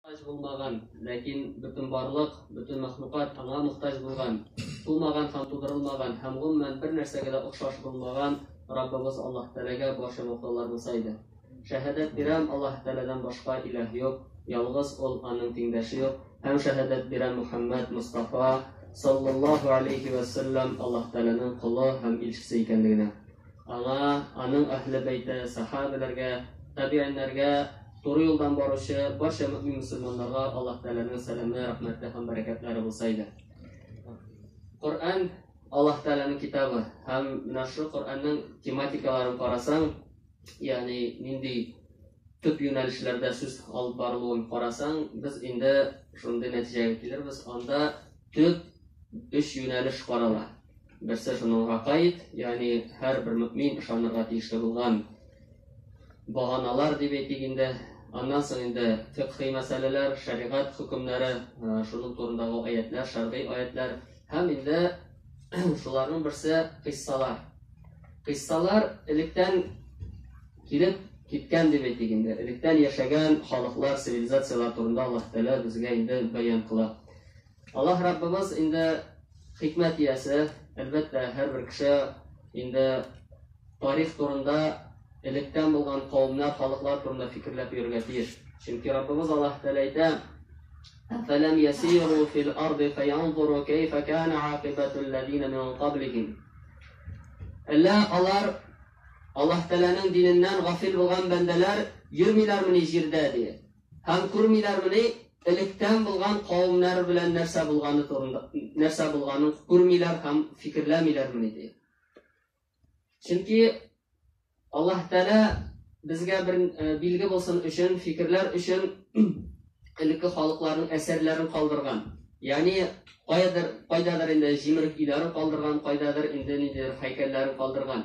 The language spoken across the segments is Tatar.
Мохтаҗ булмаган, ләкин бөтенбарлык, бөтен мәхлукат аңа мохтаҗ булган, тумаган һәм тудырылмаган һәм, гомумән, бер нәрсәгә дә охшаш булмаган Раббыбыз Аллаһ Тәгаләгә барча мохталар булса иде. Шәһадәт бирәм, Аллаһ Тәгаләдән башка илаһ юк, ялгыз Ул, аның тиңдәше юк, һәм шәһадәт бирәм Мөхәммәд Мостафа, саллаллаһу алейһи вә сәлләм, Аллаһ Тәгаләнең колы һәм илчесе икәнлегенә. Аңа, аның Әһле-Бәйте, сәхабәләргә, табигиньнәргә, туры юлдан баручы барча мөэмин мөселманнарга Аллаһ Тәгаләнең сәламе, рәхмәте һәм бәрәкәтләре булса иде. Коръән Аллаһ Тәгаләнең китабы һәм менә шул Коръәннең тематикаларын карасаң, ягъни нинди төп юнәлешләрдә сүз алып барылуын карасаң, без инде шундый нәтиҗәгә килербез. Анда төп өч юнәлеш карала. Берсе шуныңга каид, ягъни һәрбер мөэмин ышанырга тиешле булган баганалар дип әйтик инде. Аннан соң инде фикъһи мәсьәләләр, шәригать хөкемнәре, шуның турындагы аятлар, шәргый аятлар һәм инде шуларның берсе кыйссалар. Кыйссалар электән килеп киткән дип әйтик инде. Электән яшәгән халыклар, цивилизацияләр турында Аллаһ Тәгалә безгә инде бәян кыла. Аллаһ Раббыбыз инде хикмәт иясе, әлбәттә, һәрбер кеше инде тарих турында электән булган кавымнар, халыклар турында фикерләп йөрергә тиеш. Чөнки Раббыбыз Аллаһ Тәгалә әйтә: "Фәләм ясиру фил арды фаянзуру кайфа кана акибату аллазина мин каблихим". Әллә алар Аллаһ Тәгаләнең диненнән гафил булган бәндәләр йөрмиләрмени җирдә ди? Һәм күрмиләрмени, электән булган кавемнәр белән нәрсә булганы турында, нәрсә булганын күрмиләр һәм фикерләмиләрмени, ди. Чөнки Аллаһ Тәгалә безгә бер э, билге булсын өчен, фикерләр өчен элекке халыкларның әсәрләрен калдырган. Ягъни кайдадыр, кайдадыр инде җимерек өйләрен калдырган, кайдадыр инде ниндидер һәйкәлләрен калдырган.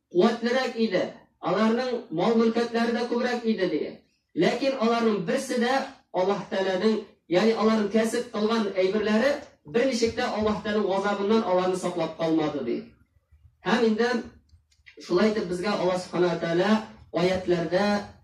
куәтлерәк иде, аларның мал-мөлкәтләре дә күбрәк иде, диде. Ләкин аларның берсе дә Аллаһ Тәгаләнең, ягъни аларның кәсеп кылган әйберләре берничек тә Аллаһ Тәгаләнең газабыннан аларны саклап калмады, ди. Һәм инде шулай итеп безгә Аллаһ Субхана ва Тәгалә аятьләрдә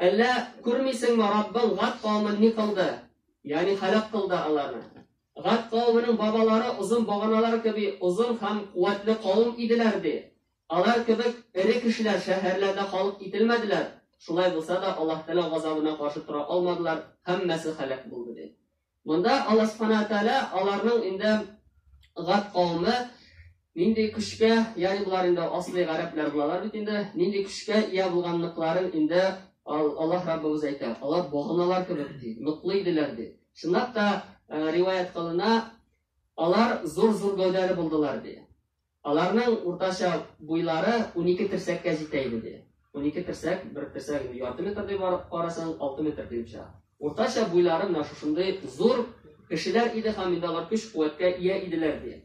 Әллә күрмисеңме, Раббың Гад кавемен ни кылды, ягъни һәлак кылды аларны. Гад кавеменең бабалары озын баганалар кеби озын һәм куәтле кавем иделәр, ди. Алар кебек эре кешеләр шәһәрләрдә халык ителмәделәр, шулай булса да, Аллаһы Тәгалә газабына каршы тора алмадылар, һәммәсе һәлак булды, ди. Монда Алла Субхана Тәгалә аларның инде гад кавеме нинди көчкә, ягъни болар инде аслый гарәпләр булалар бит инде, нинди көчкә ия булганлыкларын инде Аллаһ Раббыбыз әйтә. Алар баганалар кебек ди, ныклы иделәр ди. Чынлап та риваять кылына, алар зур-зур гәүдәле булдылар ди. Аларның уртача буйлары унике терсәккә җитә иде, ди. Унике терсәк, бер терсәк инде ярты метр дип карасаң, алты метр килеп чыга. Уртача буйлары менә шушындый зур кешеләр иде һәм инде алар көч-куәткә ия иделәр, ди.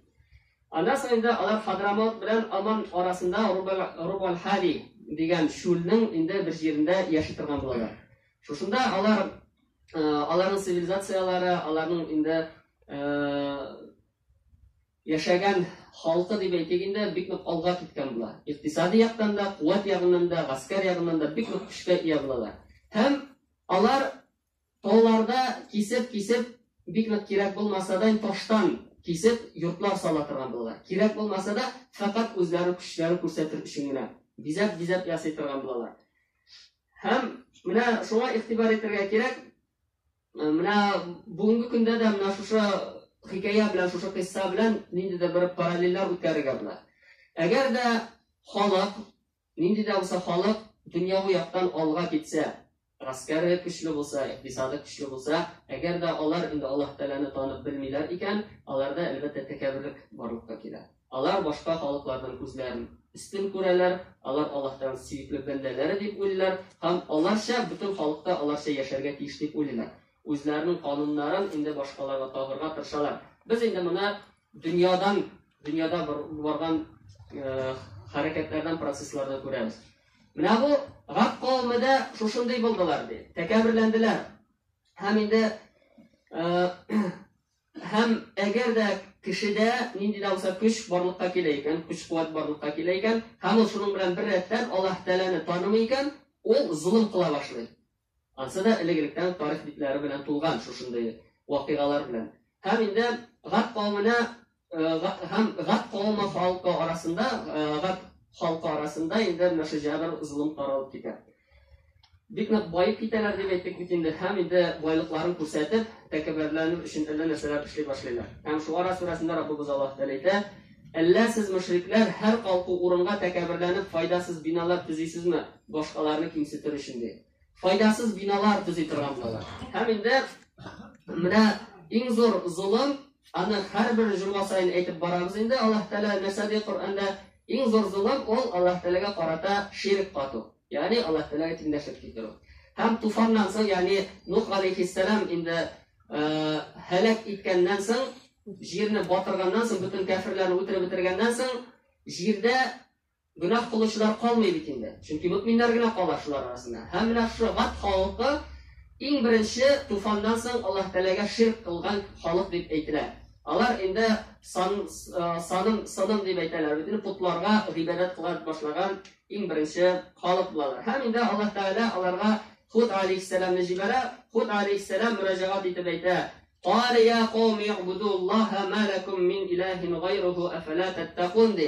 Аннан соң инде алар Хадрамаут белән Аман арасында Рубаль-Хали дигән чүлнең инде бер җирендә яши торган булалар. Шушында алар, аларның цивилизацияләре, аларның инде яшәгән халкы дип әйтик инде, бик нык алга киткән була. Икътисади яктан да, куәт ягыннан да, гаскәр ягыннан да бик нык көчкә ия булалар. Һәм алар тауларда кисеп-кисеп, бик нык кирәк булмаса да, таштан кисеп, йортлар сала торган булалар. Кирәк булмаса да, фәкать үзләре көчләре күрсәтер өчен генә бизәп-бизәп ясый торган булалар. Һәм менә шуңа игътибар итәргә кирәк, Менә бүгенге көндә дә менә шушы хикәя белән, шушы кыйсса белән нинди дә бер параллельләр үткәрергә була. Әгәр дә халык, нинди дә булса халык дөньяви яктан алга китсә, гаскәре көчле булса, икътисады көчле булса, әгәр дә алар инде Аллаһ Тәгаләне танып белмиләр икән, аларда әлбәттә тәкәбберлек барлыкка килә. Алар башка халыкларның күзләрен өстен күрәләр, алар Аллаһтан сөекле бәндәләре дип уйлыйлар һәм аларча бөтен халык та аларча яшәргә тиеш дип уйлыйлар. Үзләренең кануннарын инде башкаларга тагырга тырышалар. Без инде моны дөньядан, дөньяда барган хәрәкәтләрдән, процесслардан күрәбез. Менә бу Гад кавеме дә шушындый булдылар, ди. Тәкәбберләнделәр. Һәм инде Һәм әгәр дә кешедә нинди дә булса көч барлыкка килә икән, көч-куәт барлыкка килә икән, һәм ул шуның белән беррәттән Аллаһ Тәгаләне танымый икән, ул золым кыла башлый. Ансы да элегректән тарих битләре белән тулган шушындый вакыйгалар белән. Һәм инде Гат кавеменә һәм Гат кавеме халкы арасында, Гат халкы арасында инде менә шул җәбер, золым таралып китә. Бик нык баеп китәләр дип әйттек бит инде, һәм инде байлыкларын күрсәтеп, тәкәббәрләнү өчен әллә нәрсәләр эшли башлыйлар. Һәм Шуара сүрәсендә Раббыбыз Аллаһ Тәгалә әйтә, Әллә сез, мөшрикләр, һәр калку урынга тәкәбберләнеп файдасыз биналар төзисезме, башкаларны кимсетер өчен? ди. Файдасыз биналар төзи торган булалар. Һәм инде менә иң зур золым Аны һәрбер җомга саен әйтеп барабыз инде, Аллаһ Тәгалә нәрсә ди Коръәндә? Иң зур золым ул Аллаһ Тәгаләгә карата ширк кату, ягъни Аллаһ Тәгаләгә тиңдәшлек китерү. Һәм туфаннан соң, ягъни Нух алейхиссәлам инде һәлак иткәннән соң, җирне батырганнан соң, бөтен кәферләрне үтереп бетергәннән соң, җирдә Гөнаһ кылучылар калмый бит инде, чөнки мөэминнәр генә кала шулар арасында. Һәм менә шушы Гад халкы иң беренче туфаннан соң Аллаһ Тәгаләгә ширк кылган халык дип әйтелә. Алар инде сан, саным, сыным дип әйтәләр, бөтен потларга гыйбадәт кыла башлаган иң беренче халык булалар. Һәм инде Аллаһ Тәгалә аларга Худ алейһиссәламны җибәрә, Худ алейһиссәлам мөрәҗәгать итеп әйтә, Кале я кауми гъбудуллаһа ма лакум мин илаһин гайруху афәлә тәттәкун, ди.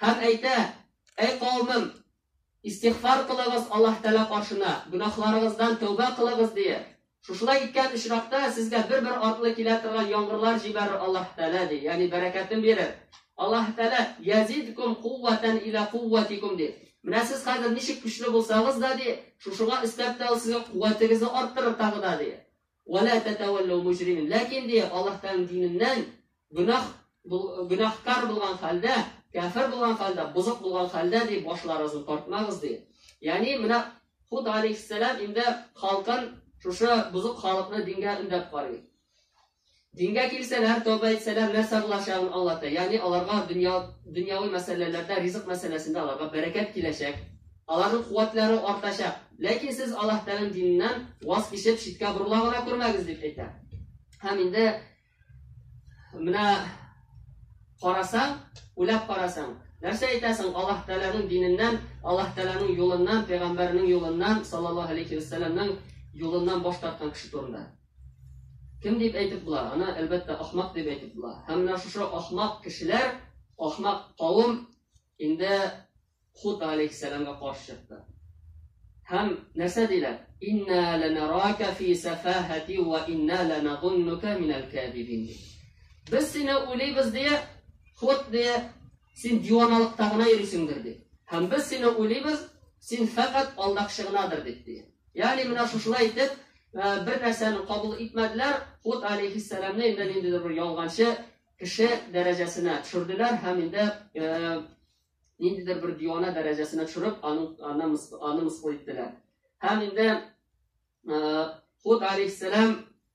Һәм әйтә, Әй каумым! Истигъфар кылыгыз Аллаһ Тәгалә каршына, гөнаһларыгыздан тәүбә кылыгыз, дияр. Шушылай иткән очракта, сезгә бер-бер артлы килә торган яңгырлар җибәрер Аллаһ Тәгалә, ди, ягъни бәрәкәтен бирер. Аллаһ Тәгалә, Язидкум куәтән илә куәтикум, ди. Менә сез хәзер ничек көчле булсагыз да, ди, шушыңа өстәп тә ул сезгә куәтегезне арттырыр тагы да, ди. Вә лә тәтәвәлләү мөҗримин. Ләкин, ди, Аллаһ Тәгаләнең диненнән гөнаһ, гөнаһкар булган хәлдә, кәфер булган хәлдә, бозык булган хәлдә, ди, башларыгызны тартмагыз, ди. Ягъни, менә Худ алейһиссәлам инде халкын, шушы бозык халыкны дингә өндәп карый. Дингә килсәләр, тәүбә итсәләр, нәрсә булачагын аңлата, ягъни аларга дөнья, дөньяви мәсьәләләрдә, ризык мәсьәләсендә аларга бәрәкәт киләчәк, аларның куәтләре артачак. Ләкин сез Аллаһ Тәгаләнең диненнән ваз кичеп, читкә борыла гына күрмәгез, дип әйтә. Һәм инде менә карасаң, уйлап карасаң, нәрсә әйтәсең Аллаһ Тәгаләнең диненнән, Аллаһ Тәгаләнең юлыннан, пәйгамбәренең юлыннан, саллаллаһу алейхи ва сәлламның юлыннан баш тарткан кеше турында? Кем дип әйтеп була? Аны, әлбәттә, ахмак дип әйтеп була. Һәм менә шушы ахмак кешеләр, ахмак кавым инде Худ алейхиссәламга каршы чыкты. Һәм нәрсә диләр? Инна ланарака фи сафахати ва инна ланазуннука минал кадибин. Без сине уйлыйбыз дия, Худ дия, Син диваналыкта гына йөрисеңдер, ди. Һәм без сине уйлыйбыз, син фәкать алдакчы гынадыр, дип, ди. Ягъни менә шушылай итеп, бер нәрсәне кабул итмәделәр, Худ алейхиссәламне инде ниндидер бер ялганчы кеше дәрәҗәсенә төшерделәр һәм инде ниндидер бер дивана дәрәҗәсенә төшереп, аны аны аны мыскыл иттеләр. Һәм инде Худ алейхиссәлам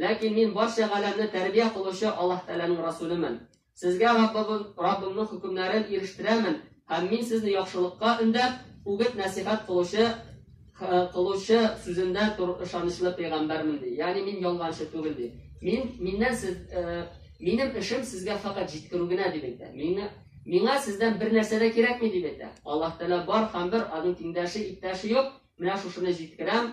Ләкин мин барча галәмне тәрбия кылучы Аллаһ Тәгаләнең Расүлемен. Сезгә Раббыбыз, Раббымның хөкемнәрен ирештерәмен һәм мин сезне яхшылыкка өндәп, үгет-нәсыйхәт кылучы кылучы сүзендә тор, ышанычлы пәйгамбәрмен ди. Ягъни мин ялганчы түгел ди. Мин миннән сез минем эшем сезгә факат җиткерү генә дип әйтә. Миңа миңа сездән бер нәрсә дә кирәкми дип әйтә. Аллаһ Тәгалә бар һәм бер, аның тиңдәше, иптәше юк. Менә шушыны җиткерәм.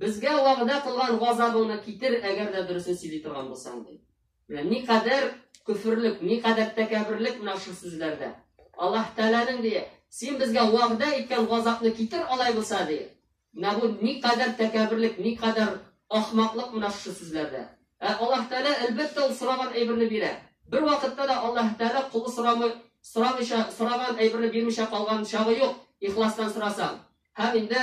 Безгә вәгъдә кылган газабыңны китер, әгәр дә дөресен сөйли торган булсаң, ди. Менә никадәр көферлек, никадәр тәкәбберлек менә шул сүзләрдә. Аллаһ Тәгаләнең, ди, син безгә вәгъдә иткән газапны китер алай булса, ди. Менә бу никадәр тәкәбберлек, никадәр ахмаклык менә шушы сүзләрдә. Ә Аллаһ Тәгалә, әлбәттә, ул сораган әйберне бирә. Бервакытта да Аллаһ Тәгалә колы сорамый, сорамыйча, сораган әйберне бирмичә калган чагы юк, ихластан сорасаң. Һәм инде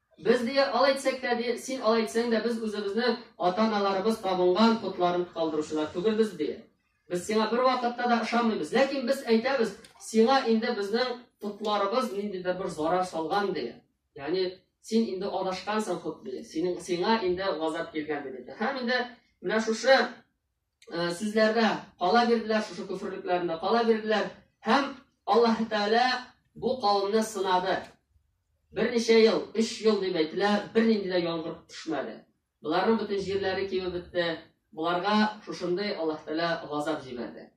Без, ди, алай итсәк тә, ди, син алай итсәң дә, без үзебезнең ата-аналарыбыз табынган потларын калдыручылар түгелбез, ди. Без сиңа бервакытта да ышанмыйбыз. Ләкин без әйтәбез, сиңа инде безнең потларыбыз ниндидер бер зарар салган, ди. Ягъни син инде адашкансың хут, ди. Синең сиңа инде газап килгән, ди. Һәм инде менә шушы э, сүзләрдә кала бирделәр, шушы көферлекләрендә кала бирделәр һәм Аллаһ Тәгалә бу кавымны сынады. Берничә ел, 3 ел дип әйтелә, бернинди дә яңгыр төшмәде. Боларның бөтен җирләре кибеп бетте. Боларга шушындый Аллаһ Тәгалә газап җибәрде.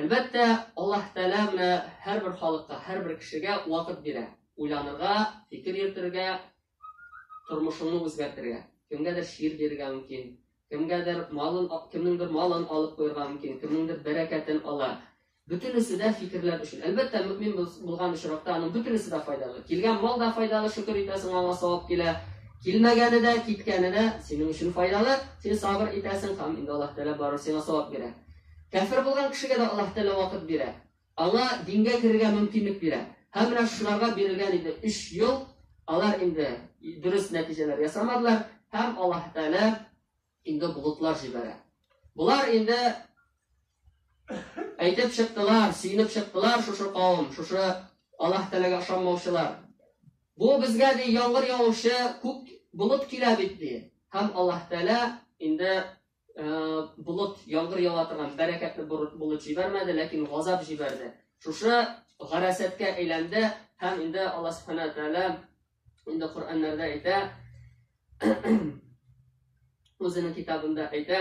Әлбәттә, Аллаһ Тәгалә менә һәрбер халыкка, һәрбер кешегә вакыт бирә, уйланырга, фикер йөртергә, тормышыңны үзгәртергә. Кемгәдер чир бирергә мөмкин, кемгәдер малын, кемнеңдер малын алып куярга мөмкин, кемнеңдер бәрәкәтен ала. Бөтенесе дә фикерләр өчен. Әлбәттә, мөмин булган очракта аның бөтенесе дә файдалы. Килгән мал да файдалы, шөкер итәсең, аңа савап килә. Килмәгәне дә, киткәне дә синең өчен файдалы. Син сабыр итәсең һәм инде Аллаһ Тәгалә барыбер сиңа савап бирә. Кәфер булган кешегә дә Аллаһ Тәгалә вакыт бирә. Аңа дингә керергә мөмкинлек бирә. Һәм менә шуларга бирелгән инде өч ел, алар инде дөрес нәтиҗәләр ясамадылар, һәм Аллаһ Тәгалә инде болытлар җибәрә. Болар инде әйтеп чыктылар, сөенеп чыктылар шушы кавым, шушы Аллаһ Тәгаләгә ышанмаучылар. Бу безгә ди яңгыр явучы күк болыт килә бит ди. Һәм Аллаһ Тәгалә инде болыт яңгыр ява торган бәрәкәтле болыт җибәрмәде, ләкин газап җибәрде. Шушы гарәсәткә әйләнде һәм инде Аллаһ Субханаһу Тәгалә инде Коръәннәрдә әйтә, үзенең китабында әйтә,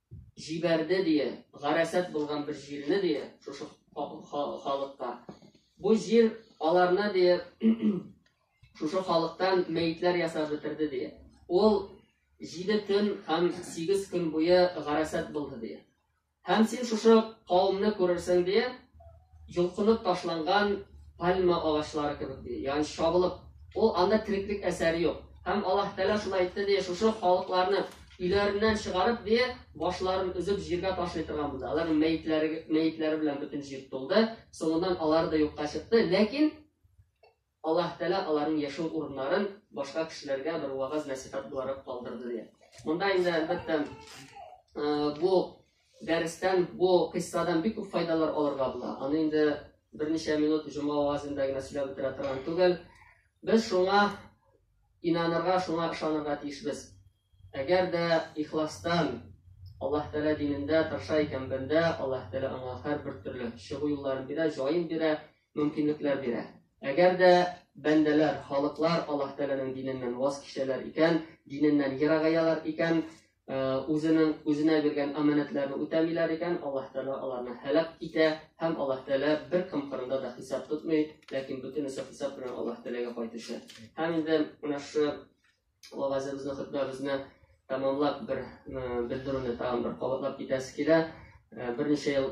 җибәрде, дия, гарәсәт булган бер җирне, дия, шушы халыкка. Бу җир аларны, дия, шушы халыктан мәетләр ясап бетерде, дия. Ул җиде көн һәм сигез көн буе гарәсәт булды, дия. Һәм син шушы кавымны күрерсең, дия, йолкынып ташланган пальма агачлары кебек, ди, ягъни чабылып, ул анда тереклек әсәре юк. Һәм Аллаһ Тәгалә шулай әйтте, ди, шушы халыкларны өйләреннән чыгарып, ди, башларын өзеп җиргә ташлый торган булды. Аларның мәетләре, мәетләре белән бөтен җир тулды. Соңыннан алар да юкка чыкты, ләкин Аллаһ Тәгалә аларның яшәү урыннарын башка кешеләргә бер вагаз-нәсыйхәт буларак калдырды, ди. Монда инде, әлбәттә, бу дәрестән, бу кыйссадан бик күп файдалар алырга була. Аны инде берничә минут җома вагазында гына сөйләп бетерә торган түгел. Без шуңа инанырга, шуңа ышанырга тиешбез. Әгәр дә ихластан Аллаһ Тәгалә динендә тырыша икән бәндә, Аллаһ Тәгалә аңа һәрбер төрле чыгу юлларын бирә, җаен бирә, мөмкинлекләр бирә. Әгәр дә бәндәләр, халыклар Аллаһ Тәгаләнең диненнән ваз кичәләр икән, диненнән ерагаялар икән, э, үзенең үзенә биргән аманәтләрне үтәмиләр икән, Аллаһ Тәгалә аларны һәлак итә һәм Аллаһ Тәгалә бер кем кырында да хисап тотмый, ләкин бөтенесе хисап белән Аллаһ Тәгаләгә кайтучы. Һәм инде менә шу вагазыбызны, хөтбәбезне тәмамлап бер э, белдерүне тагын бер кабатлап китәсе килә. Э, берничә ел